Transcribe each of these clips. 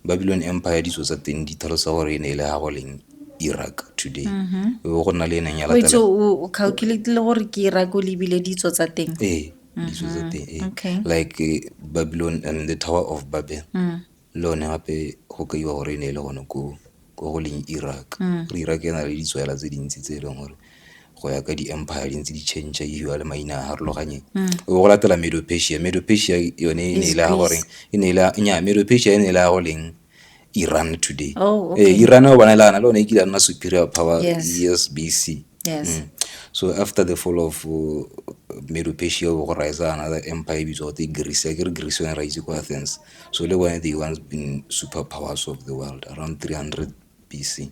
Babylon Empire ditso tsa teng di tlhalosa gore e ne e le gago leng Iraq today mm-hmm. o go nna le eneng ya latela o calculate le gore ke Iraq o lebile ditso tsa teng ee ditso tsa mm-hmm. teng ee like eh, Babylon and the Tower of Babel mm. le one gape go kaiwa gore e ne e le gone ko ko go leng Iraq mm. gore Iraq e na le ditswela tse dintsi tse e leng gore go ya ka di-empire di ntse di change e hiwa le maina a harologanyeng mm. o go latela medopesia medopesia yone e ne e le ya goreng e ne e le nya medopesia e ne e le ya go leng iran today oh, okay. eh, iran o bona le ana le one e kile a nna superior power yes, yes bc yes. Mm. so after the fall of uh, medopesia o go rise another empire e bitswa gote greece a ke re greece yone ra itse ko athens So le bone they once been super powers of the world around 300 BC.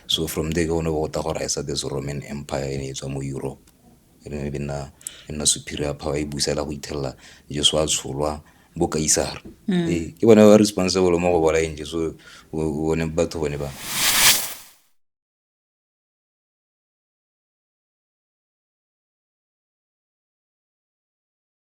So from there ke gone go ta go raisa this Roman Empire e ne e tswa mo Europe e ne e nna e nna superior power e busela go ithelela Jesu a tsholwa bo kaisara mm. ee, ke bone ba responsible mo go bolaeng Jesu bone batho bone ba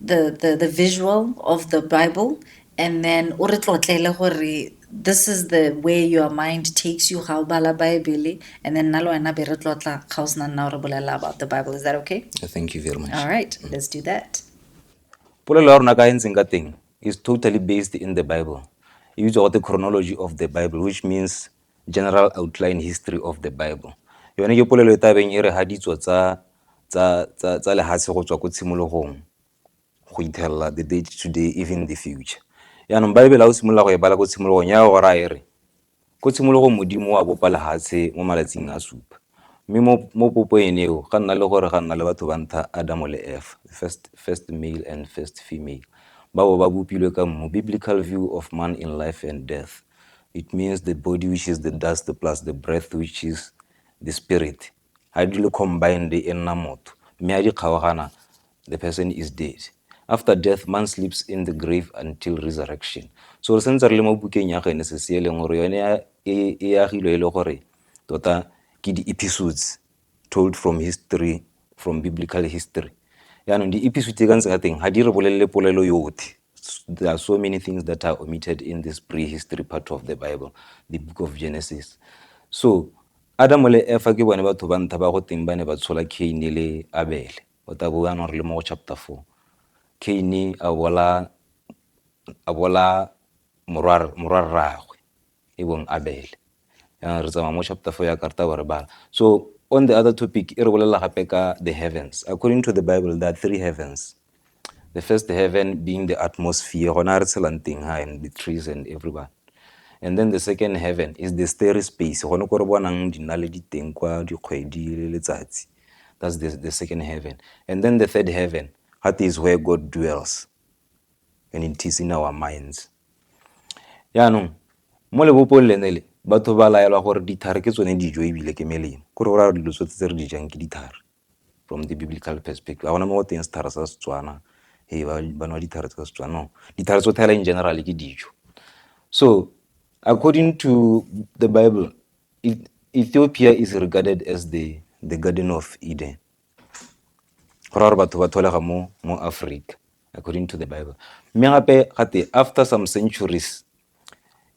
the, the, the visual of the Bible and then o re tlotlele gore this is the way your mind takes you ga o bala bible and then nna le wena be re tlotla ga o sena nna o re bolelela about the bible is that okay uh, thank you very much all right mm. let's do that polelo ya rona ka e ntseng ka teng is totally based in the bible e bitswa gote chronology of the bible which means General Outline History of the Bible, Yone ke polelo e tabeng e re ha ditso tsa tsa tsa tsa lehatshe go tswa ko tshimologong go ithelela the day today even the future. Yaanong Baebele o simolola go e bala ko tshimologong ya go raya e re ko tshimologong Modimo wa bopa lehatshe mo malatsing a supa. Mme mo mo popo ene eo ga nna le gore ga nna le batho ba ntlha Adamo le Efa, first first male and first female. Ba bo ba bopilwe ka mmu, biblical view of man in life and death. it means the body which is the dust plus the breath which is the spirit ha di le combined e nna motho mme a di kgaogana the person is dead after death man sleeps in the grave until resurrection so re sentse re le mo bukeng ya genesis e leng gore yone e, e agilwe e le gore tota ke di-episodes told from history from biblical history yaanong di-episode tse ka ntse ka teng ga di re bolelele polelo yothe there are so many things that are omitted in this prehistory part of the bible the book of genesis so adamo le efa ke bone batho ba ntha ba go teng ba ne ba tshola caine le abele o ta bo anong re le mo go chapter four caine a bola morwarragwe e bong abele yana re tsamaya mo chapter four ya karta ba re bala so on the other topic e re bolelela gape ka the heavens according to the bible there are three heavens the first heaven being the atmosphere gona re tshelang teng ha and the trees and everyone and then the second heaven is the starry space gone ko re bonang dinaledi teng kwa dikgwedi le letsatsi that's the, the second heaven and then the third heaven that is where god dwells and it is in our minds. Jaanong mo lebopong lene le batho ba laelwa gore dithare ke tsone dijo ebile ke melemo kore go raya dilo tsotlhe tse re di jang ke dithare from the biblical perspective ga gona mo go teng sethare sa setswana e ba nwa dithare tsa setswana no dithare tsotlhe fela in general ke dijo so according to the bible ethiopia is regarded as the, the garden of eden go raya gore batho ba tholega mo mo Africa according to the Bible mme gape gate after some centuries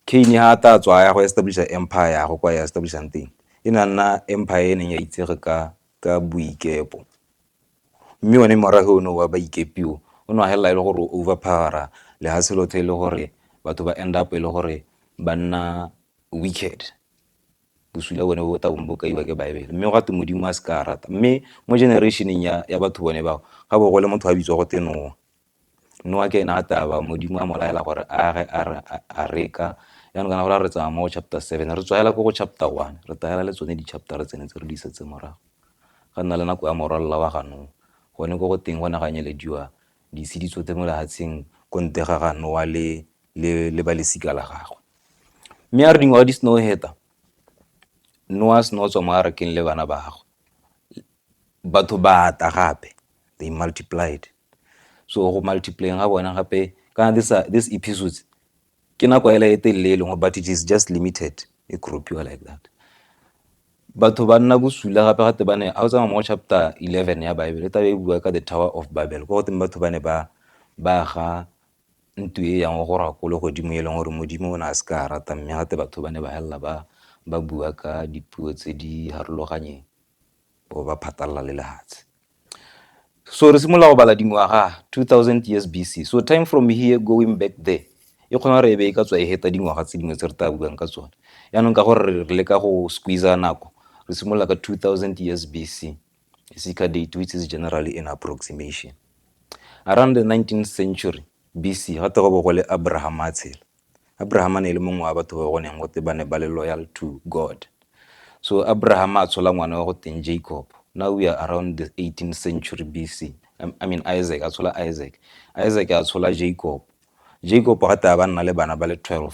Cain ha ta tswa ya go establisha empire ya go kwa ya establishang teng e na nna empire e neng ya itsege ka ka boikepo mme one morago ono wa baikepio o ne a helela e le gore overpowera le ha selothe e le gore batho ba end up e le gore ba nna wicked Bosula bone bo tla bong bo kaiwa ke Baebele mme ga twe Modimo a se ka a rata. Mme mo generation-eng ya batho bone bao ga bo gole motho a bitswa go twe Noa. Noa ke ene a taba Modimo a mo laela gore a age a reka jaanong kana gore a re tsamaya mo go chapter seven re tswa hela ko go chapter one re tagela le tsone di-chapter tsene tse re di isetse morago. Ga nna le nako ya morwalela wa ga Noa gone ko go teng go ne ga nyelediwa Dise di tswetse mo lehatsheng kontega ga Noa le, le, le ba lesika la gagwe. Mme a re dingwaga di seno heta, Noa a seno tswa mo arakeng le bana ba gagwe, batho ba ata gape, they multiplied. So go multiplyeng ga bone gape, kana these, these episodes Ke nako hela e telele e leng but it is just limited e crop-iwa like that. Batho ba nna bosula gape gate ba ne ha o tsamaya mo chapter 11 ya Bible e tla e bua ka the Tower of Babel ko goteng batho ba ne ba ba ga ntu e yang go rwa kolo godimo e leng gore modimo o ne a se ka rata mme gate batho ba ne ba helela ba ba bua ka dipuo tse di harologanyeng bo ba phatalala le lehatshe. So re simolola go bala dingwaga 2000 years BC. So time from here going back there e kgona gore e be e ka tswa e heta dingwaga tse dingwe tse re tla buang ka tsone. Yaanong ka gore re leka go squeeze nako re simolola ka 2000 years BC e se ka date which is generally an approximation. Around the 19th century BC ga te go bo go le Abraham a tshela. Abrahama ne e le mongwe wa batho ba go neng gote ba ne ba le loyal to God. So Abrahama a tshola ngwana wa go teng Jacob. Now we are around the 18th century BC. I mean Isaac, a tshola Isaac. Isaac a tshola Jacob. Jacob ga taba ba nna le bana ba le 12.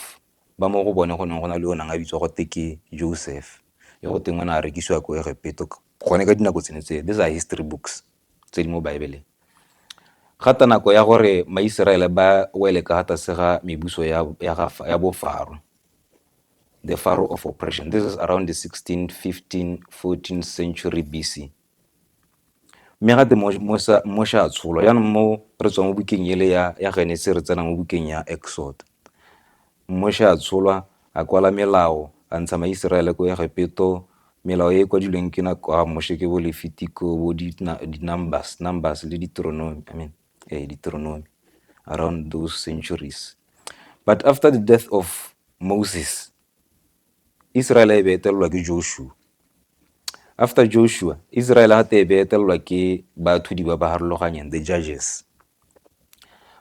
Ba mo go bone go neng go na le o nang a bitswa gote ke Joseph. Yo go teng o ne a rekisiwa ko Egepeto gone ka dinako tsene tse. These are history books. tse di mo Baebeleng. Ga ta nako ya gore Maiseraele ba wele ka tlase ga mebuso ya, ya, ga, ya bofaro, the Pharaoh of oppression. This is around the 16, 15, 14 century BC. Mme ga te Moshe a tsholwa. Jaanong mo re tswa mo bukeng ele ya, ya Genese re tsena mo bukeng ya Exoda. Moshe a tsholwa, a kwala melao, a ntsha Maiseraele ko Egepeto, melao e e kwadilweng ke nako ya Moshe ke bo Lefitiko, bo di-Numbers, Numbers le Deuteronomy, I mean, eh, Deuteronomy, around those centuries. But after the death of Moses, Israel e be etelelwa ke Joshua. After Joshua, Israel gate e be etelelwa ke baathudi ba ba harologanyeng, the judges.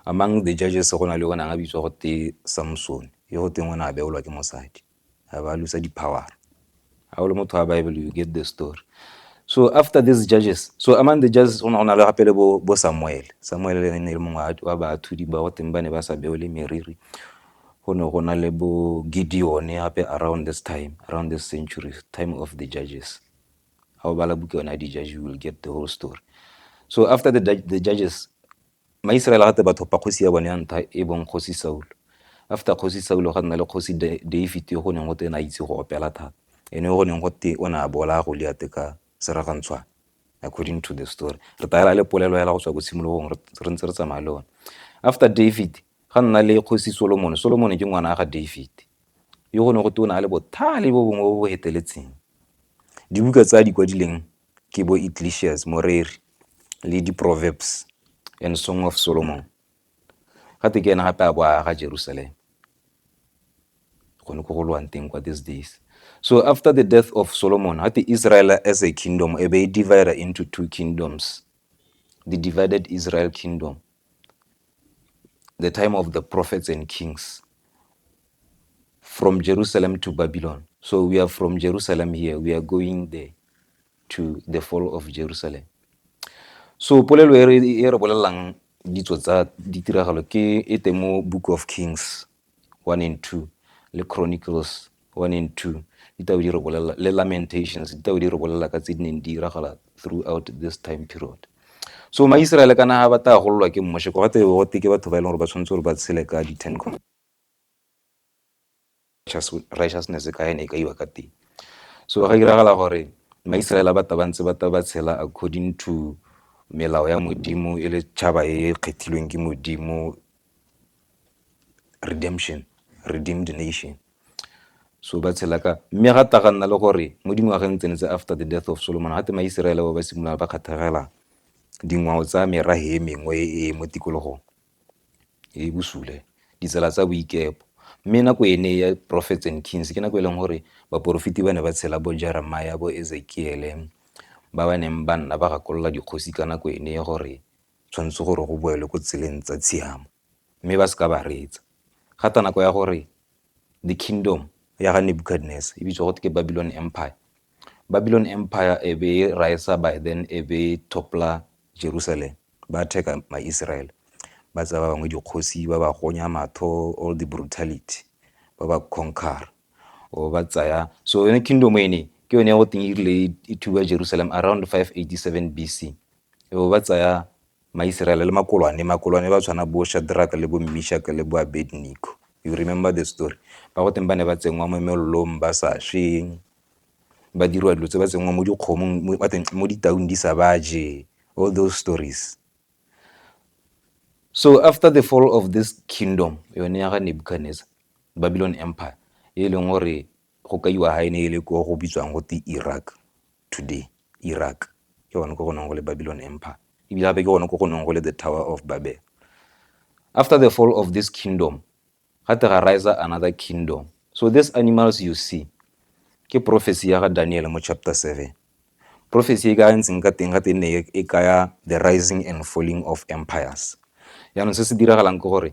Among the judges go na le onang a bitswa go te Samson, yo go teng o ne a beolwa ke mosadi, a ba lusa di-power. Ga o le motho wa Bible, you get the story. So after these judges, so among the judges go ne go na le gape le bo, bo Samuel. Samuel le ne le mongwe wa baathudi ba go teng ba ne ba sa beole meriri. go ne go na le bo Gideone gape around this time, around this century, time of the judges. Ga o bala buka yone ya di-judge you will get the whole story. So after the, the judges, maisraele gate batho pa kgosi ya bone ya ntha e bong kgosi saulo after kgosi saulo ga nna le kgosi david yo go neng go te na itse go opela thata ene go neng go te o ne a bola go liate ka seragantshwana according to the story re taela le polelo hela go tswa ko tshimologong re ntse re tsamaya le one after david Ga nna le Kgosi Solomone. Solomone ke ngwana ga Dafide, yo go ne go te o ne a le bothale bo bongwe bo bo heteletseng. Dibuka tse a di kwadileng ke bo Ecclesiastes, Moreri, le di Proverbs and Song of Solomon. Ga te ke ene gape a bo a aga Jerusalem, gone ko go lwang teng kwa these days. So after the death of Solomon, ga te Israel as a kingdom e be e divider into two kingdoms, the divided Israel kingdom, the time of the prophets and kings, from Jerusalem to Babylon. So we are from Jerusalem here, we are going there to the fall of Jerusalem. So polelo e re bolelang ditso tsa ditiragalo ke e teng mo Book of Kings. one and two, le Chronicles one and two, ditabo di re bolelela le Lamentations, ditabo di re bolelela ka tse di neng di diragala throughout this time period. So Maiseraele kana ha ba ta gololwa ke Moshe, go gate go teke batho ba e leng gore ba tshwanetse gore ba tshele ka di ten righteousness ka ene e ka iwa ka teng. So ga diragala gore Maiseraele ba taba ntse ba taba tshela according to melao ya Modimo e le tšhaba e kgethilweng ke Modimo redemption, redeemed nation. So ba tshela ka mme ga ta ga nna le gore mo dingwageng tsene tse after the death of Solomon ga te Maiseraele ba ba simolola ba kgathagela dingwao tsa merahe e mengwe e e mo tikologong e bosule ditsela tsa boikepo mme nako ene ya prophets and kings ke nako e leng gore baporofiti ba ne ba tshela bo jeremaya bo ezekiele ba ba neng ba nna ba gakolola dikgosi ka nako ene gore tshwanetse gore go boelwe ko tseleng tsa tshiamo mme ba se ka ba reetsa. Ga tla nako ya gore the kingdom ya ga Nebuchadnezzar e bitswa go ke Babylon Empire. Babylon Empire e be e raesa by then e be e topla Jerusalem ba attack-a ma-Israel ba tsaya ba bangwe dikgosi ba ba gonya matho all the brutality ba ba conquer o ba tsaya so yone kingdom ene ke yone go teng e rile e thuba Jerusalem around 587 BC E be ba tsaya Maiseraele le makolwane, makolwane ba tshwana bo Shadrack le bo Mishack le bo Abednego, you remember the story, ba go teng ba ne ba tsenngwa mo melelong ba sa swe, ba diriwa dilo tse, ba tsenngwa mo dikgomong mo ditaung di sa ba je, all those stories. So after the fall of this kingdom yone ya ga Nebuchadnezzar, Babylon Empire, e leng gore go kaiwa ga e ne e le ko go bitswang gote Iraq. today, Iraq, ke gone ko go neng go le Babylon Empire, ebile gape ke gone ko go neng go le the Tower of Babel. After the fall of this kingdom, ga te ga riser another kingdom. So these animals you see, ke prophecy ya ga Daniel mo chapter 7. Prophecy e ka ntseng ka teng ga te ne e kaya the rising and falling of empires. Yaanong se se diragalang ke gore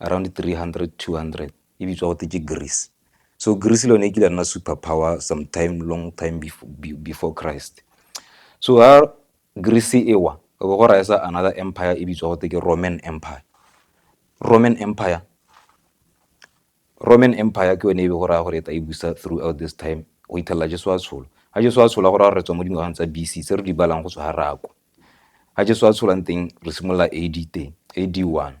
around three hundred, two hundred e bitswa gote ke Greece. So Greece le yone e kile ya nna super power some time long time before Christ. So ha Greece e wa e bo go raesa another empire e bitswa gote ke Roman Empire. Roman Empire, Roman Empire ke yone e be go raya gore e ta e busa throughout this time go ithelela Jesu a tshola. Ha Jesu a tshola go raya gore re tswa mo dingwageng tsa BC se re di balang go tswa ha rako. Ha Jesu a tsholang teng re simolola AD teng, AD one.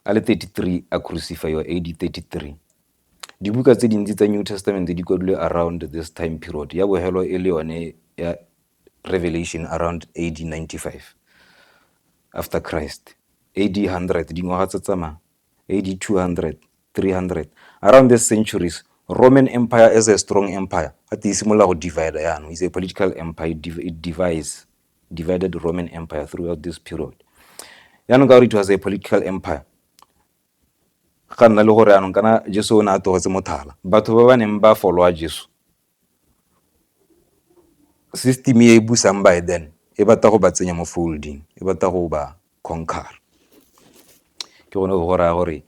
a le 33 a krusifaiwa AD 33. Dibuka tse dintsi tsa New Testament di kwadilwe around this time period ya bohelo e le yone ya Revelation around AD 95 after Christ AD 100 dingwaga tse tsamaya AD 200 300 around this centuries Roman Empire as a strong empire a te e simolola go divide yaanong is a political empire it divides divided Roman Empire throughout this period. Yaanong ka gore it was a political empire, ga nna le gore yaanong kana Jesu o ne a togetse mothala. Batho ba ba neng ba followa Jesu, system e e busang by then e batla go ba tsenya mo folding, e batla go ba conquer. Ke gone go go raya gore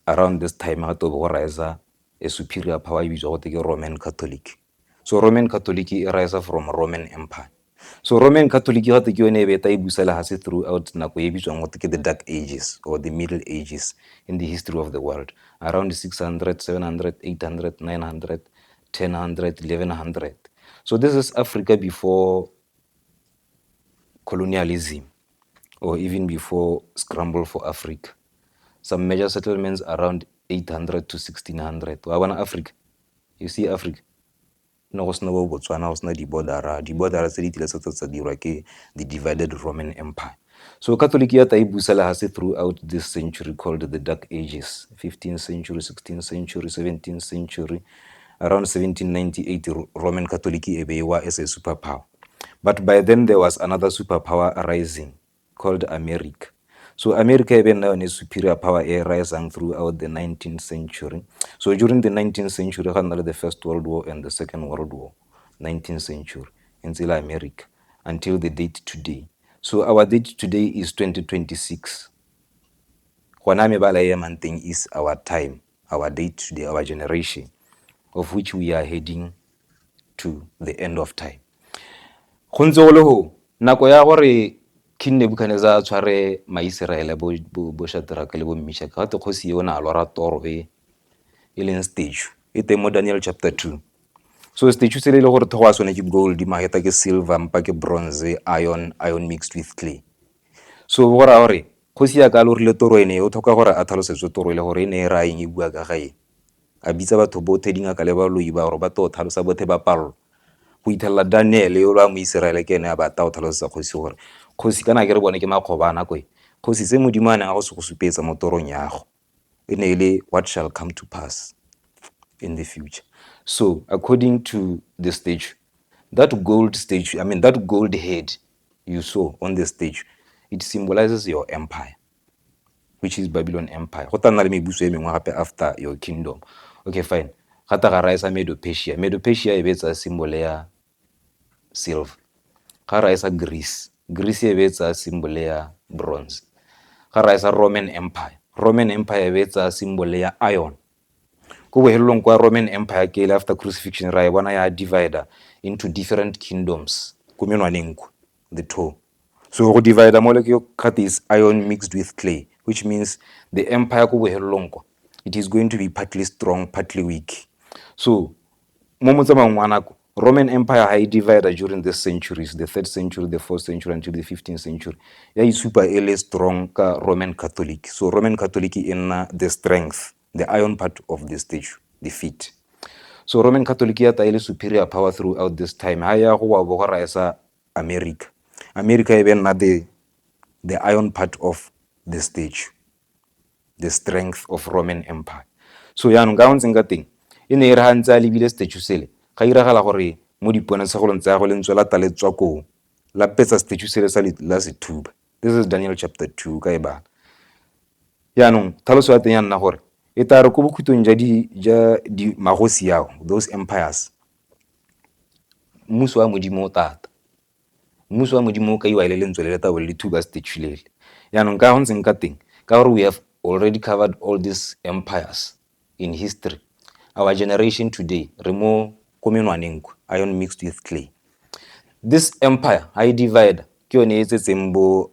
around this time ga to go riser a superior power e bitswa gote ke Roman Catholic. So Roman Catholic e raesa from Roman Empire. So Roman Catholic gate ke yone e beta e busa lehase throughout nako e bitswang gote ke the dark ages or the middle ages in the history of the world around 600 700 800 900 1000 1100 so this is africa before colonialism or even before scramble for africa some major settlements around 800 to 1600 wa bona africa You see Africa ne go sena bo Botswana go sena di border-ra, di border-ra tse di kile tsa tsa tsa dirwa ke the divided Roman Empire. So Catholic ya tla e busa le hase through out this century called the dark ages, fifteenth century, sixteenth century, seventeenth century, around seventeen ninety eight Roman Catholic e be e wa as a super power. But by then there was another super power arising called America. So America e be nna yone superior power e risang throughout the 19th century. So during the 19th century ga nna le the first world war and the second world war, 19th century, e ntse le America until the date today. So our date today is 2026. Gona mebala e emang teng is our time. our date to the, our generation of which we are heading to the end of time go ntse go le go nako ya gore king nebukadnezar a tshware maiseraele bo, bo, bo shadrake le bo mmishaka gate kgosi eo na lora toro e e leng statue e teng mo daniel chapter 2 so statue se le le gore thogo a sone ke gold mageta ke silver mpa ke bronze iron iron mixed with clay so go raya gore Kgosi ya ka lo rile toro e ne o tlhoka gore a tlhalosetswe toro e le gore e ne e raya eng e bua ka ga eng. A bitsa batho bothe, dingaka le baloi ba gore ba tlo tlhalosa bothe ba palelwa. Go ithelela Daniele yolo a Moiseraele ke ene a ba tao tlhalosetsa kgosi gore, Kgosi kana akere bone ke makgoba a nako e? Kgosi tse Modimo a neng a go se go supetsa mo torong yago. e ne e le what shall come to pass in the future. So according to the statue, that gold statue, I mean that gold head you saw on the statue, it symbolizes your empire, which is Babylon Empire. Go tana le mebuso e mengwe gape after your kingdom. Okay, fine. Ga ta ga raisa Medo-Persia. Medo-Persia e betsa symbol ya silver ga ra e sa greece greece e be e tsaya symbol ya bronze ga ra e sa roman empire roman empire e be e tsaya symbol ya iron ko bohelelong kwa roman empire ke ile after crucifixion ra e bona ya divider into different kingdoms ko menwaneng ko the two So go divider mole ke gate is iron mixed with clay, which means the empire ko bohelelong ko it is going to be partly strong, partly weak. So mo motsamayong wa nako Roman Empire ha e divider during the centuries, the third century, the fourth century until the 15th century. Ya isupa e le strong ka Roman Catholic. So Roman Catholic e nna the strength, the iron part of the statue, the feet. So Roman Catholic ya ta e le superior power throughout this time. Ha ya go wa bogora e sa America. America e be nna the the iron part of the statue the strength of roman empire so yaanong ka ntseng ka teng e ne e re ga ntse a lebile statue sele ga iragala gore mo diponatshegolong tsa gagwe lentswe la ta le tswa koo la petsa statue sele sa la sethuba this is daniel chapter 2 ka e bala yaanong tlhaloso ya teng ya nna gore e tla re ko bokhutlong ja di ja di magosi yao those empires Mmuso wa Modimo o thata. Mmuso wa Modimo o kaiwa e le lentswe le le tau le le thuba statue . Jaanong ka go ntseng ka teng ka gore we have already covered all these empires in history, our generation today re mo ko menwaneng ko, iron mixed with clay. This empire ga e divide-a ke yone e tsetseng bo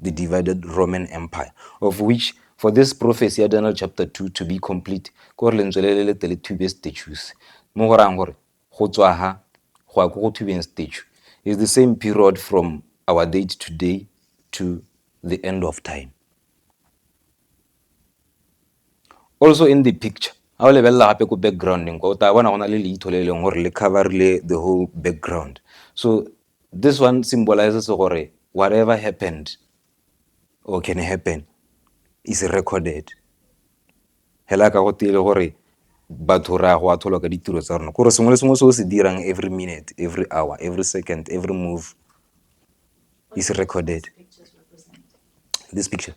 the divided Roman Empire, of which for this prophecy ya Daniel chapter 2 to be complete, ko re lentswe le le letele thube statues, mo go rang gore go tswa ha go ya ko go thubeng statue, is the same period from our date today to the end of time. Also in the picture, ga o lebelela gape ko backgrounding kwa o tla bona go na le leitho le e leng gore le coverile the whole background so This one symbolizes gore whatever happened or can happen is recorded. Hela ka go tile gore batho re a go atholwa ka ditiro tsa rona gore sengwe le sengwe se o se dirang every minute every hour every second every move is recorded this picture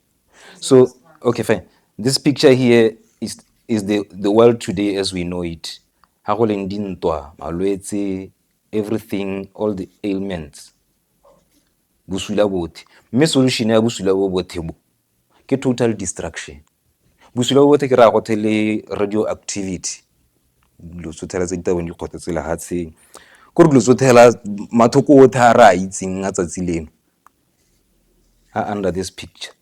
so okay fine this picture here is, is the, the world today as we know it ga go leng dintwa malwetse everything all the ailments bosula bothe mme solution ya bosula bo bothe bo ke total destruction bosula bo bothe ke raya gothe le radio activity dilo tsothela tse ditabong di kgotsa tse lehatsheng ko re dilo tsothela mathoko othe a re a itseng a tsatsi leno a under this picture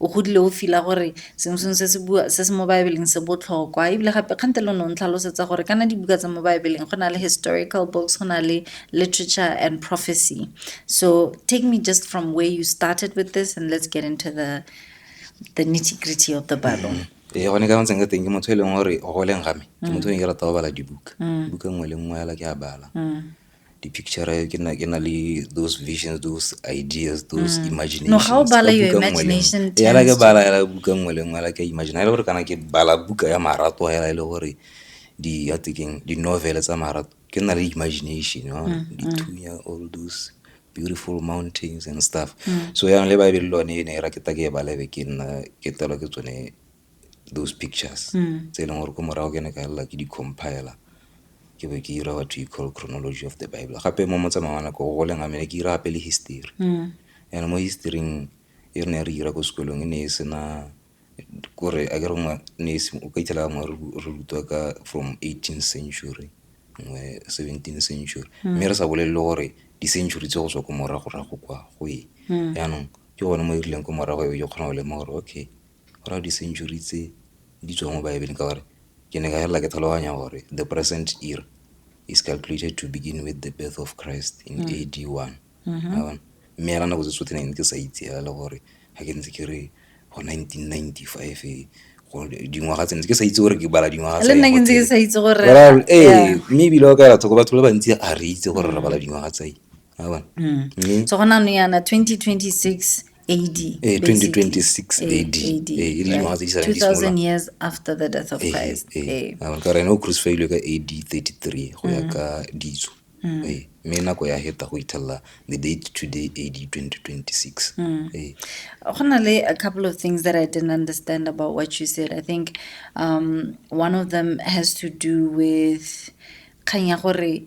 o godile o fila gore sengwe sengwe se se bua se se mo baebeleng se botlhokwa ebile gape kgante lo ne o ntlhalosetsa gore kana dibuka tsa mo baebeleng go na le historical books go na le literature and prophecy so take me just from where you started with this and let's get into the the nitty gritty of the bible mm -hmm. ee gone ka ntseng ka teng ke motho e leng gore o goleng game ke mm. motho e ke rata go bala dibuka mm. buka nngwe le nngwe yala ke a bala mm. di-picture ke na ke na le those visions those ideas those mm. imagination no ga o bala your imagination yana ke bala yana buka nngwe le nngwe la ke imagine ha e le gore kana ke bala buka ya marato hela e le gore di ya tekeng di novel tsa marato ke na le imagination no mm, di mm. thunya all those beautiful mountains and stuff mm. so yang le ba e be le lone e ne e ra ke ta ke e balebe ke nna ke telo ke tsone those pictures mm. tse e leng gore ko morago ke ne ka lela ke di-compiler ke be ke ira what we call chronology of the bible gape mo motsamao wa nako go leng amene ke ira gape le history mm. and mo historyng e re ne re ira ko sekolong e ne e sena kore a ke re ngwe ne o ka itlhela ngwe re rutwa ka from 18 century ngwe 17 century mm. mme re sa bolelele gore di-century tse go tswa ko moragorago kwa go e mm. jaanong ke gone mo e rileng ko morago e ke kgona go lema gore okay Go raya di-century tse di tswang mo baebeleng ka gore ke ne ka felelela ke tlhaloganya gore the present era is calculated to begin with the birth of Christ in A_D one mme fela nako tse tsotlhe ne ke sa itse fela gore ga ke ntse ke re go nineteen ninety five dingwaga tse ke sa itse gore ke bala dingwaga tse nna ke ntse ke sa itse gore ee mme ebile o ka batho ba bantsi a re itse gore re bala dingwaga tse so go nang yana twenty twenty six AD. Eh, 2026 AD. AD. Eh, e le dingwaga tse di salang di 2000 simolola. years after the death of Eh, Christ. eh, Eh. a mare ka rena o crucifilwe ka ad 33 go ya ka ditso Eh, mme nako ya heta go ithelela the date today ad 2026 Eh, Go na le a couple of things that I didn't understand about what you said. I think um, one of them has to do with kgang ya gore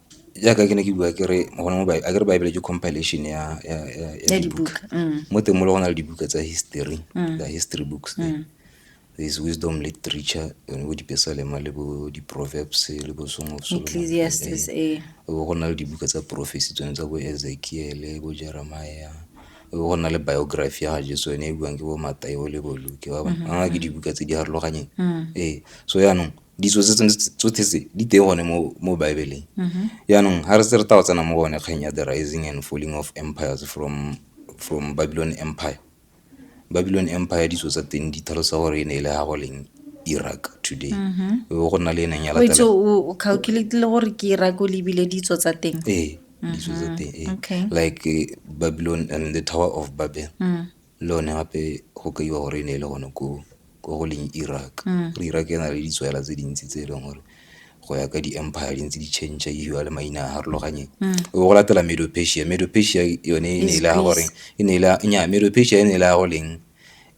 jaaka ke ne ke bua kere gone mo a kere bible ke compilation ya ya ya ya dibuka mm. mo teng mo le go na le dibuka tsa history mm. the history books there mm. there is wisdom literature yone bo dipesalema le bo di-proverbs le bo song of ecclesiastes eh. eh. bo go na le dibuka tsa prophecy tsone tsa bo ezekiele bo jeremiah go na le biography ya ga jesu yone e buang ke bo matayo le bo luke ba bangwe mm-hmm. ke dibuka tse di harologanyeng mm. ee so yaanong ditso tse tsotlhe tse di teng gone mo mo baebeleng mm-hmm. yaanong ga re se re tao tsena mo gone kgang ya the rising and falling of empires from from babylon empire babylon empire ditso tsa teng di tlhalosa gore e ne e le ga go leng iraq today mm-hmm. go nna le e neng ya latela o calculate le gore ke iraq o lebile ditso tsa teng ee ditso tsa mm-hmm. teng ee like eh, babylon and the tower of babel mm. le one gape go kaiwa gore e ne e le gone ko ko go leng Iraq mm. gore Iraq e na le ditswela tse dintsi tse e leng gore go ya ka di-empire di ntse di change e hiwa le maina a harologanye mm. o go latela medopesia medopesia yone e ne e le ya gore e ne e le nya medopesia e ne e le ya go leng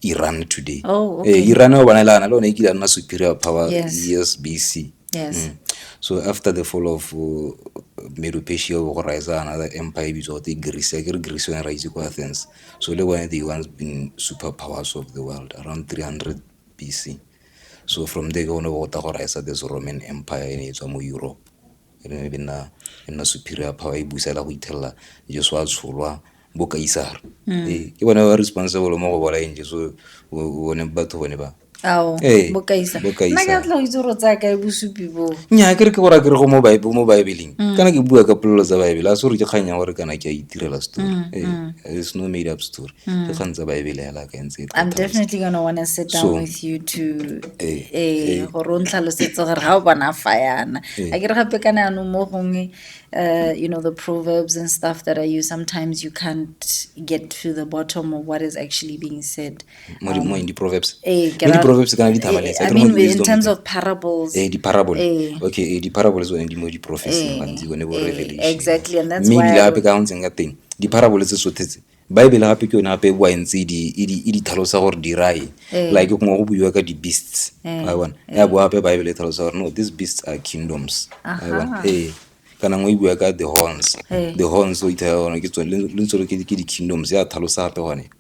iran today oh, okay. eh, iran o bona e le ana le one e kile a nna superior power yes, yes bc yes. Mm. so after the fall of uh, medopesia o go rise another empire e bitswa gote greece a ke re greece yone ra itse ko athens So le bone they once been super powers of the world around 300 BC. So from there ke gone go ta go raisa this Roman Empire e ne e tswa mo Europe e ne e nna e nna superior power e busela go ithelela Jesu a tsholwa bo kaisara ee ke bone ba responsible mo go bolaeng Jesu bone batho bone ba ao Ee, bokaisa bokaisa. nna ke a tla go itse gore tsaya kae bosupi boo nya ke re ke gore a ke re go mo Bi- mo baebeleng kana ke bua ka polelo tsa baebele a se gore ke kgang ya gore kana ke a itirela story Ee, it's no made up story ke kgang tsa baebele hela ka ntse e i'm tata. definitely gonna wanna sit down So- with you to Eh, eh gore o ntlhalosetse gore ga o bona fa yana a ke re gape ka ne anong mo gongwe uh, you know the proverbs and stuff that i use sometimes you can't get to the bottom of what is actually being said mo di- mo in di-proverbs Eh, ke Mo ra- di-proverbs kana di-thabalets, Eh, I akere mo mean, in di-wisdom terms tse. of parables. Eh, di-parable Eh. okay eh, di-parable tsone di mo di-prophecy Eh, gantsi bone bo eh, revelation exactly, and that's mme why ebile I gape would- ka ntseng ka teng di-parable tse sothe tse baebele gape ke yone gape e boa e ntse e di- e di- e di tlhalosa gore di rae Eh. like gongwe go buiwa ka di-beasts Eh, wa bona ya boa gape baebele e tlhalosa gore no these beasts are kingdoms Wa bona? Aha. Eh, kana ngwe e bua ka the horns Eh. the horns o ithaa gore ke tsone le ntse lo ke ke di-kingdoms ya thalosa gape gone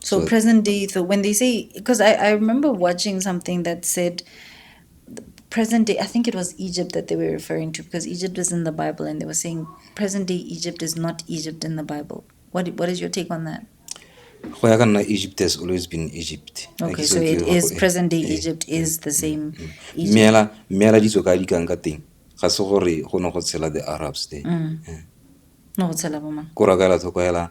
So, present day, so when they say, because I, I remember watching something that said, present day, I think it was Egypt that they were referring to, because Egypt is in the Bible, and they were saying, present day Egypt is not Egypt in the Bible. What, what is your take on that? go ya ka nna egypt has always been egypt okay so it is present day eh, egypt eh, is the eh, same meela meela ditso ka di kang ka teng ga se gore go ne go tshela the arabs there mm. no go tshela bo mang ko ra ka la tlhoko hela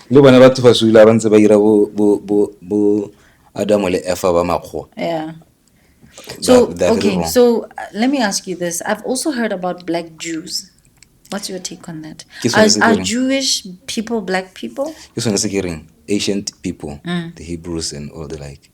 le bone batho ba sula ba ntse ba ira bo bo bo bo Adamo le Eva ba makgowa yeah so that, that okay so uh, let me ask you this i've also heard about black jews what's your take on that are, are jewish people black people ke sone se ke reng ancient people mm. the hebrews and all the like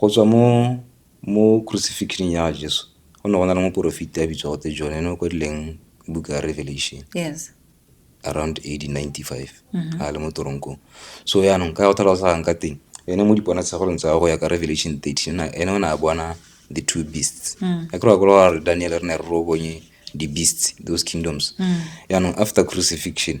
Go tswa mo mo crucifixion ya Jesu go ne go na le moporofeti a bitswa gote John ene o kwadileng buka ya Revelation yes around AD 95 mm-hmm. a le mo toronkong so yaanong ka go tlhalosang ka teng ene mo diponatshegolong tsa go ya ka Revelation 13 ene o ne a bona the two beasts mm. a kry-a kolo gore Daniel re ne re ro bonye di-beasts those kingdoms mm. yaanong after crucifixion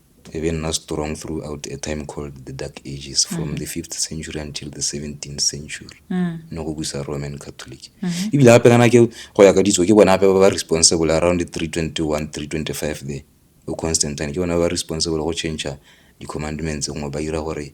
E be nna strong throughout a time called the dark ages from mm. the fifth century until the seventeenth century mm. ne go busa roman catholic mm-hmm. ebile gape kana ke go ya ka ditso ke bona gape ba ba responsible around the three twenty one three twenty five there o constantine ke bona ba ba responsible go change di-commandments ngwe ba dira gore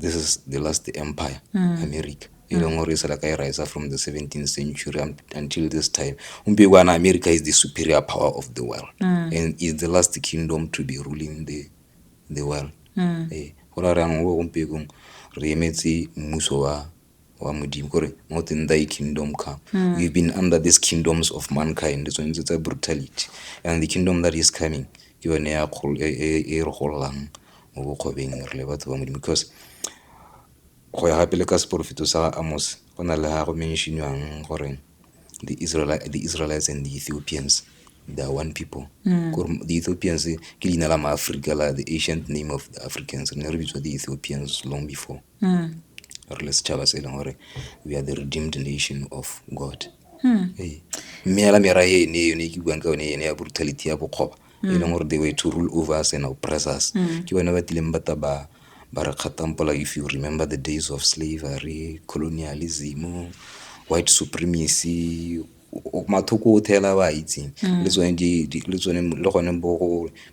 this is the last empire mm. america e leng mm. gore e sela ka e rise from the 17th century until this time gompieko kana america is the superior power of the world mm. and is the last kingdom to be ruling the, the world mm. e eh, go ra reyang o gompiekong re emetse mmuso wa wa modimo kore not in thy kingdom come mm. we've been under these kingdoms of mankind tsone tse tsa brutality and the kingdom that is coming ke yone e, e, e, e re gololang mo bokgobeng re le batho ba modimo because go ya gape le ka seporofeto sa amos go na le ga go mentionwang gore the, Israel, the israelites and the ethiopians they are one people mm. kore the ethiopians ke leina la maaforika la the ancient name of the africans re ne re bitswa the ethiopians long before re le setšhaba se e leng gore we are the redeemed nation of god Ee. mme hela mera e ne yone e ke buang ka yone ene ya brutality ya bokgoba e leng gore they were to rule over us and oppress us ke bone ba tlileng ba ta ba ba re kgatampola if you remember the days of slavery colonialism white supremacy mathoko otlhe ela ba itseng le tsone le tsone le gone bo go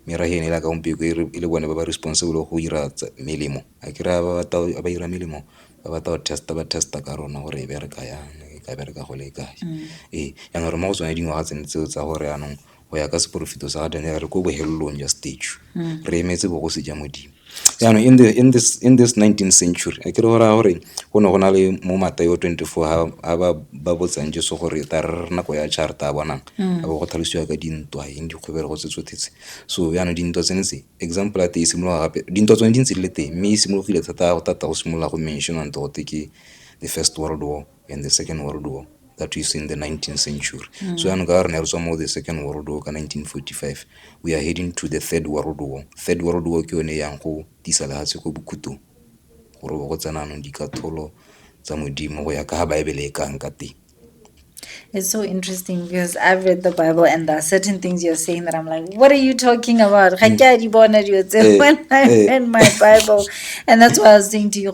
merafe ene ela ka gompieko e le bone ba ba responsible go ira melemo a ke raya ba ba ira melemo ba batla go test-a ba test-a ka rona gore e bereka yang e ka bereka go le kae ee jaanong re mo go tsone dingwaga tsone tseo tsa gore jaanong. go ya ka seporofeto sa ga daniel re ko bohelelong jwa stage hmm. re emetse bogosi ja modimo jaanong in, in, this, in this 19th century a kere gore gore go ne go na le mo matayo 24 ga ba ba botsang jeso gore ta re nako ya char ta bonang hmm. a bo go tlhalosiwa ka dintwa eng dikgwebelo go tsetsotshetse so jaanong dintwa tsene tse example ya te e simologa gape dintwa tsone di ntse di le teng mme e simologile thata go tata go simolola go mentionante gote ke the first world war and the second world war that is in the 19th century mm. so anhu kaari naye rusoma the second world war ka 1945 we are heading to the third world war third world war ke yone yang go tisa lehatshe ko bokhutong gore go tsena anong dikatholo tsa modimo go ya ka ga baebele e kang ka teng It's so interesting because I've read the Bible and there are certain things you're saying that I'm like, what are you talking about? Mm. Eh, eh. in my Bible. And that's why I was saying to you,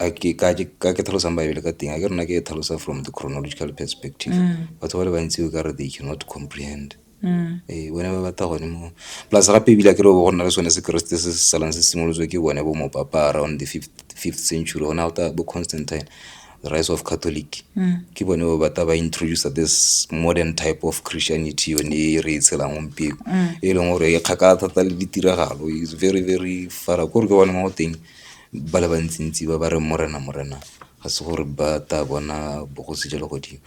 a ke ka ke ka ke tlhalosang baebele ka teng a ke rona ke e tlhalosa from the chronological perspective batho ba le bantsi o ka re they cannot comprehend ee bone ba batla gone mo plus gape ebile a ke re go nna le sone sekeresete se se salang se simolotswe ke bone bo mopapa around the fifth, fifth century gona go ta bo constantine the rise of catholic ke bone ba batla ba introduce this modern type of christianity yone e re e tshelang gompieko e leng gore e kgakala thata le ditiragalo is very very fara kore ke bone mo go teng ba le bantsintsi ba ba reng Morena, Morena, ga se gore ba tla bona bogosi jwa legodimo.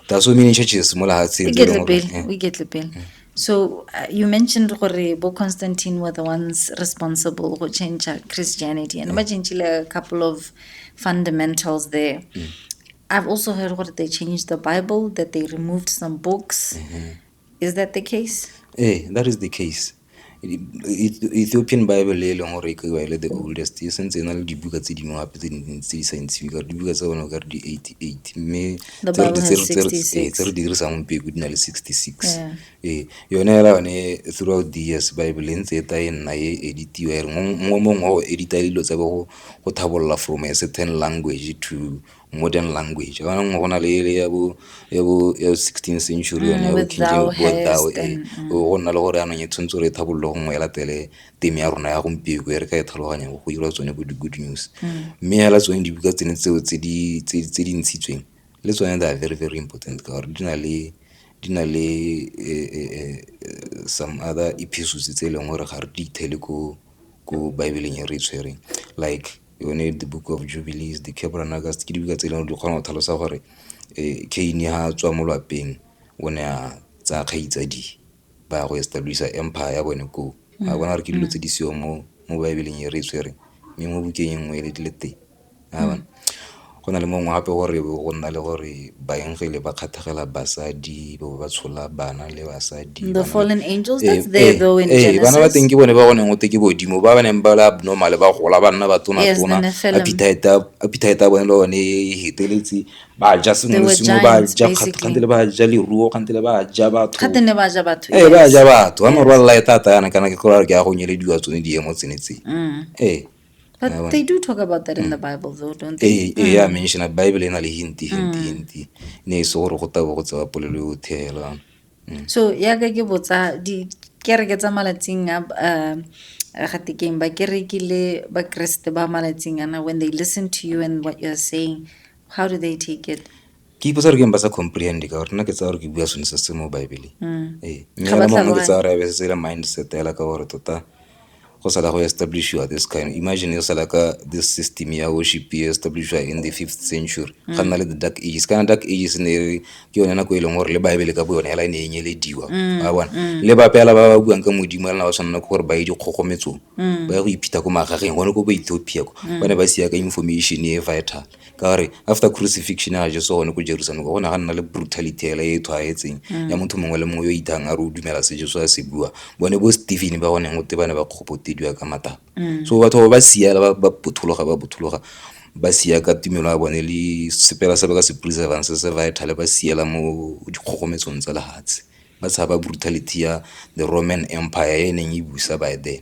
There are so many churches mo lehatsheng. tse e leng gore- eh, iketle pele so uh, you mentioned gore bo constantine were the ones responsible go change christianity and ba changile a couple of fundamentals there i've also heard gore they changed the bible that they removed some books Is that the case? Ee, that is the case. Ethiopian Bible e leng gore e kaiwa e le the oldest e sentse e na le dibuka tse dingwe gape tse dintsi tse di sa ntshiwe ka dibuka tsa bone ka re di eighty eight mme tse re dirisang gompieko di na le sixty six ee yone fela yone throughout the years bible e ntse e ta e nna e editiwa e re mongwe mongwe o edita dilo tsa bo go thabolola from a certain language to modern language ga nngwe go na le ele ya bo ya bo ya sixteen century yone ya bo king james bo thou e go nna le gore anong e tshwanetse gore e tlhabololo gongwe e latele teme ya rona ya gompieko e re ka e tlhaloganya go dira tsone bo di-good news mme fela tsone dibuka tsene tseo tse di ntshitsweng le tsone they are very very important ka gore di na le di na le some other episodes tse e leng gore ga re di ithele ko ko baebeleng e re e tshwereng like yone the book of jubilees the Tabernacles ke dibuka tse e leng gore di kgona go tlhalosa gore um Cain ha a tswa mo lwapeng o ne a tsaya kgaitsadi ba ya go establish empire ya bone koo ga bona gore ke dilo tse di seyo mo mo baebeleng e re e tshwereng mme mo bukeng e nngwe e le teng a bona. Go na le mongwe gape o re go nna le gore baengele ba kgathagela basadi bo ba tshola bana le basadi the fallen angels eh, that's there eh, though in Genesis eh, bana ba teng ke bone ba go neng o te ke bodimo ba ba neng ba le abnormal ba gola ba nna ba tona tona appetite ya bone le one e heteletse ba ja sengwe le sengwe ba ja kgante le ba ja leruo kgante le ba ja batho kgante ne ba ja batho eh ba ja batho ba morwa la e tata yana kana ke gore ke ya go nyelediwa tsone diemo tsene tse mm. eh But yeah, they do talk about that in the mm. Bible though, don't they? Eh, eh, yeah, mm. mention Bible ena le hinti hinti mm. hinti. Ne e se gore go tabo go tsa polelo yo thela. So ya ka ke botsa di kereke tsa malatsing a uh, ga tekeng ba kereke le ba Kriste ba malatsing ana when they listen to you and what you're saying, how do they take it? ke ipotsa gore ke eng ba sa comprehend ka gore nna ke tsa gore ke bua sone se se mo baebeleng mm. ee Ga ba sa ke tsa gore ebe se tsela mindset ela ka gore tota go sala go establish you this kind imagine yo sala ka this system ya worship e establish in the fifth century mm. ga nna le the dark ages kana dark ages ne re ke yone nako e leng gore le baebele ka boyone ela e ne e nyelediwa mm. ba bona le bapela ba ba buang ka modimo ela ba tshwanela ke gore ba ye dikgogometsong ba ya go iphitha ko magageng gone ko bo ethiopia ko ba ne ba siya ka information e vital ka gore after crucifixion ya jeso gone ko jerusalem ka gona ga nna le brutality ele e tshwaetseng ya motho mongwe le mongwe yo ithang a re o dumela se jeso a se bua bone bo stephen ba goneng gote ba ne ba kgopotediwa ka matapa so batho ba ba siela ba ba pothologa ba pothologa ba siya ka tumelo ya bone le sepela se ba ka se preservang se se vital ba siela mo dikgogometsong tsa lefatshe ba tshaba brutality ya the roman empire e neng e busa by then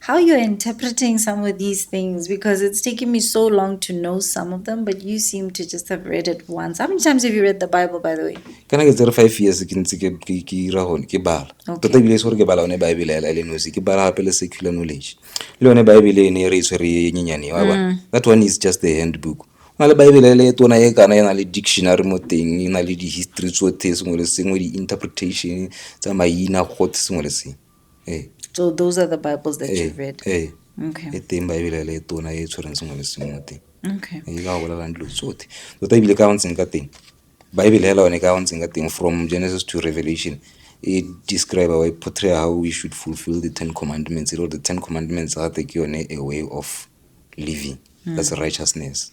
How you're interpreting some of these things, because it's taken me so long to know some of them, but you seem to just have read it once. How many times have you read the Bible, by the way? Can I get there five years? Can see ke ke ke ira hone ke bala. Tota bile sore ke bala one Bible ela ele nosi ke bala hape le secular knowledge. Le one Bible e ne re tshwere e nyenyane wa ba. Mm. That one is just the handbook. na le baebele ele e tona e kana e na le dictionary mo teng e na le di-history tsotlhe sengwe le sengwe di-interpretation tsa maina gothe sengwe le sengwe ee so those are the bibles that you've read ee okay e teng baebele le tona e tshwereng sengwe le sengwe teng okay e ka bolelang dilo tsotlhe tota ebile ka ntseng ka teng baebele hela yone ka ntseng ka teng from genesis to revelation e describe or e portray how we should fulfill the ten commandments e le gore the ten commandments gate ke yone a way of living that's righteousness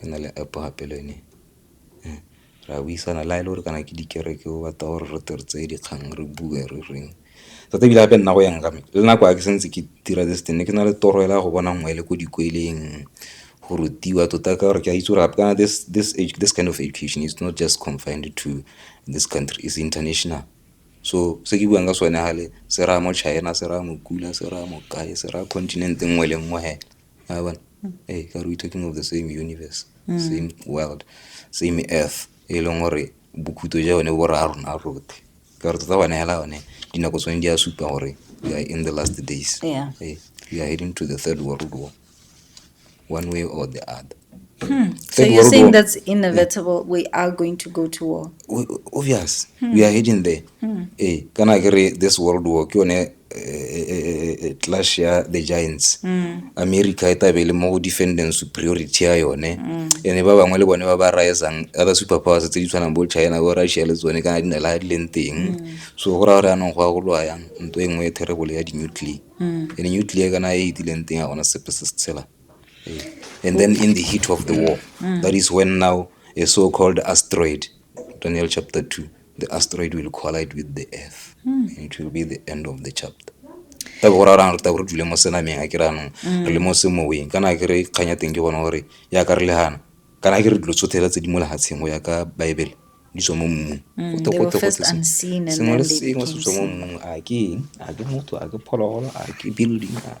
Go na le App gape le yone re a buisana le ha e le gore kana ke dikereke o batla gore re tle re tseye dikgang re bue re reng tota ebile gape nna go ya nka me le nako ha ke santse ke dira this thing ne ke na le toro fela ya go bona ngwe le ko dikweleng go rutiwa tota ka gore ke a itse gore gape kana this kind of education is not just confined to this country is international. So se ke buang ka sone fale se raya mo China, se raya mo Kula, se raya mo kae, se raya continent nngwe le nngwe fela. Yabona? Hey, ka we talking of the same universe, same world, same earth. E leng gore bokhuto ja yone bo raya rona rotlhe. Ka re tota bana hela yone dinako tsone di a supa gore we are in the last days. Yeah. Hey, we are heading to the third world war. One way or the other. Hmm. So you're saying that's inevitable. Yeah. We are going to go to war. We, obvious. Hmm. We are heading there. Hmm. Eh, can I agree this world war? Ke yone clash ya the giants mm. america e tabe le mo defending superiority ya yone mm. ene ba bangwe le bone ba ba risang other super powers tse di tshwanang bo china bo russia le tsone kana di na le di leng teng mm. so go raya gore anong go ya go lwa yang nto e nngwe e terrible ya di-nuclear mm. ene nuclear kana e e dileng teng ya gona sepe se se tshela and then in the heat of the war mm. that is when now a so-called asteroid daniel chapter 2 the asteroid will collide with the earth mm. it will be the end of the chapter e go ra rang re ta gore dule mo senameng a ke ranong hmm. re le mo semoweng kana ke re kganya teng ke bona gore ya ka re le gana kana ke re dilo tsothela tse di mo legatsheng go ya ka baebele di tswa mo mmung hmm, sengwe le sengwe se tswa mo mmung a ke eng a ke motho a ke phologolo a ke building a